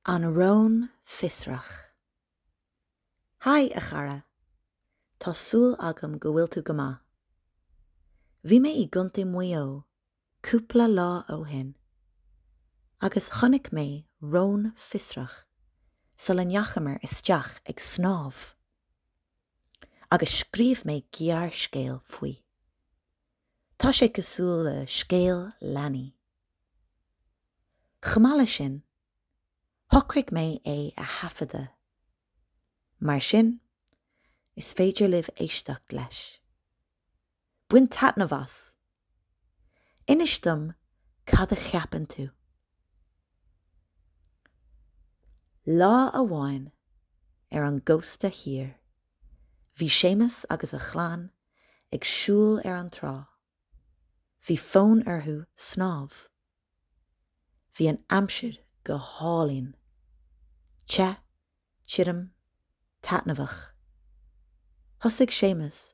An Rón Fiosrach. Haigh, a chara! Tá súil agam go bhfuil tú go maith. Bhí mé i gContae Mhaigh Eo cúpla lá ó shin, agus chonaic mé rón fiosrach sula ndeachamar isteach ag snámh, agus scríobh mé gearrscéal faoi. Tá sé cosúil le scéal leanaí. Chomh maith leis sin, shocraigh mé é a thaifeadadh. Mar sin, is féidir libh éisteacht leis. Bain taitneamh as! Inis dom cad a cheapann tú. Lá amháin ar an gcósta thiar, bhí Séamus agus a chlann ag siúl ar an trá. Bhí fonn orthu snámh. Bhí an aimsir go hálainn. Te, tirim, taitneamhach. Thosaigh Séamus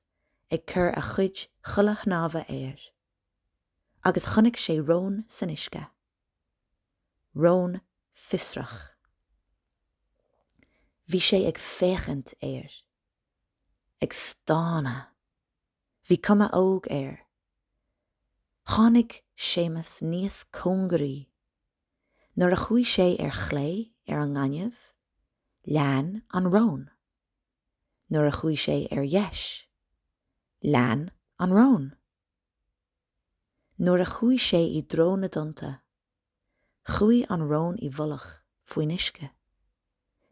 ag cur a chuid chulaith shnámha air. Agus chonaic sé rón san uisce. Rón fiosrach. Bhí sé ag féachaint air. ag stánadh. Bhí cuma óg air. Tháinig Séamus níos cóngaraí. Nuair a chuaigh sé ar chlé ar an ngaineamh, lean an rón. Nuair a chuaigh sé ar dheis, lean an rón. Nuair a chuaigh sé i dtreo na dtonnta, chuaigh an rón i bhfolach faoin uisce.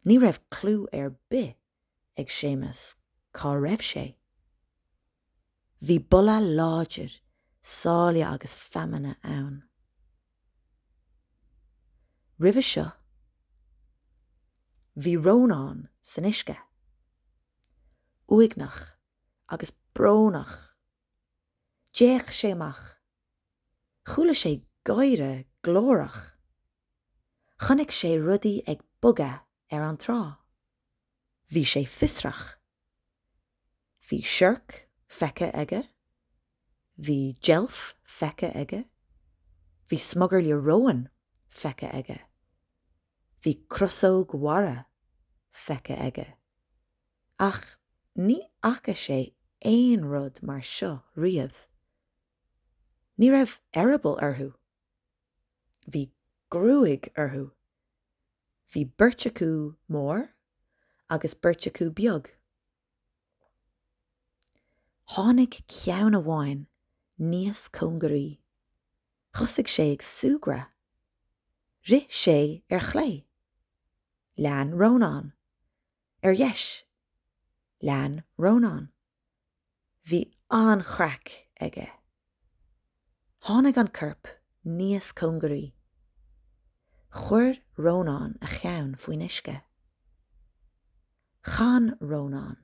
Ní raibh clú ar bith ag Séamus cá raibh sé. Bhí boladh láidir sáile agus feamainne ann. Roimhe seo, bhí Rónán san uisce. Uaigneach agus brónach. D'fhéach sé amach. Chuala sé gáire glórach. Chonaic sé rudaí ag bogadh ar an trá. Bhí sé fiosrach. Bhí siorc feicthe aige. Bhí deilf feicthe aige. Bhí smugairle róin feicthe aige. Bhí crosóg mhara feicthe aige. Ach ní fhaca sé aon rud mar seo riamh. Ní raibh eireaball orthu. Bhí gruaig orthu. Bhí beirt acu mór agus beirt acu beag. Tháinig ceann amháin níos cóngaraí. Thosaigh sé ag súgradh. Rith sé ar chlé. Lean Rónán. Ar dheis, lean Rónán. Bhí an-chraic aige. Tháinig an corp níos cóngaraí. Chuir Rónán a cheann faoin uisce. Chan Rónán.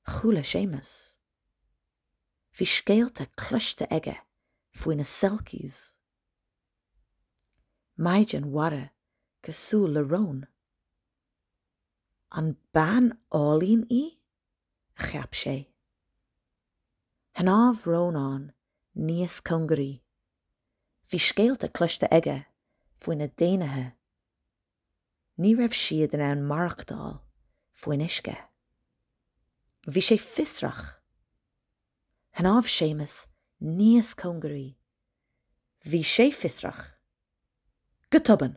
Chuala Séamus. Bhí scéalta cloiste aige faoi na Selkies. Maighdean mhara cosúil le rón. An bean álainn í? a cheap sé. Shnámh Rónán níos cóngaraí. Bhí scéalta cloiste aige faoi na daonnaithe. Ní raibh siad in ann maireachtáil faoin uisce. Bhí sé fiosrach. Shnámh Séamus níos cóngaraí. Bhí sé fiosrach. Go tobann!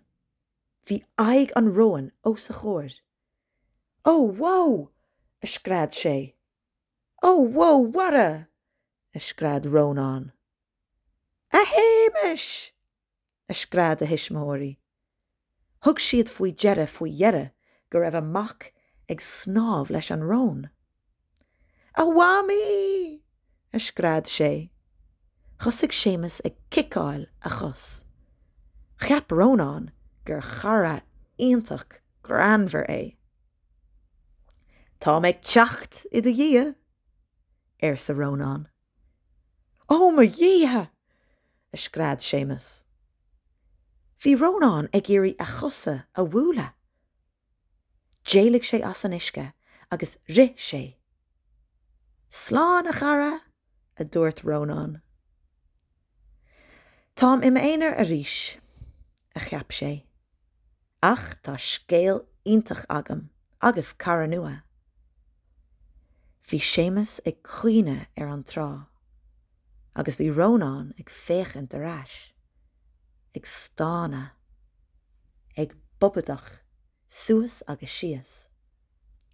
Bhí aghaidh an róin os a chomhair. Ó! Wó! a scread sé. Ó! Wó! A chara! a scread Rónán. A Shéamais! a scread a thuismitheoirí. Thug siad faoi deara faoi dheireadh go raibh a mac ag snámh leis an rón. A Mhamaí! a scread sé. Thosaigh Séamus ag ciceáil a chos. Cheap Rónán gur chara iontach greannmhar é. Tá mé ag teacht i do dhiaidh! arsa Rónán. Ó mo Dhia! a scread Séamus. Bhí Rónán ag iarraidh a chosa a bhualadh. D'éalaigh sé as an uisce agus rith sé. Slán a chara! a dúirt Rónán. Táim i m'aonar arís, a cheap sé. Ach tá scéal iontach agam agus cara nua. Bhí Séamus ag caoineadh ar an trá. agus bhí Rónán ag féachaint ar ais, ag stánadh, ag bobadach suas agus síos,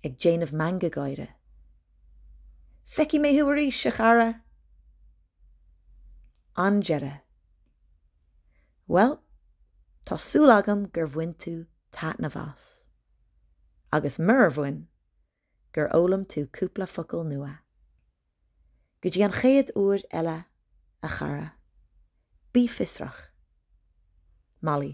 ag déanamh meangadh gáire. Feicfidh mé thú arís, a chara! An deireadh. Bhuel, tá súil agam gur bhain tú taitneamh as. Agus murar bhain, gur fhoghlaim tú cúpla focal nua. Go dtí an chéad uair eile, a chara, bí fiosrach! Molly.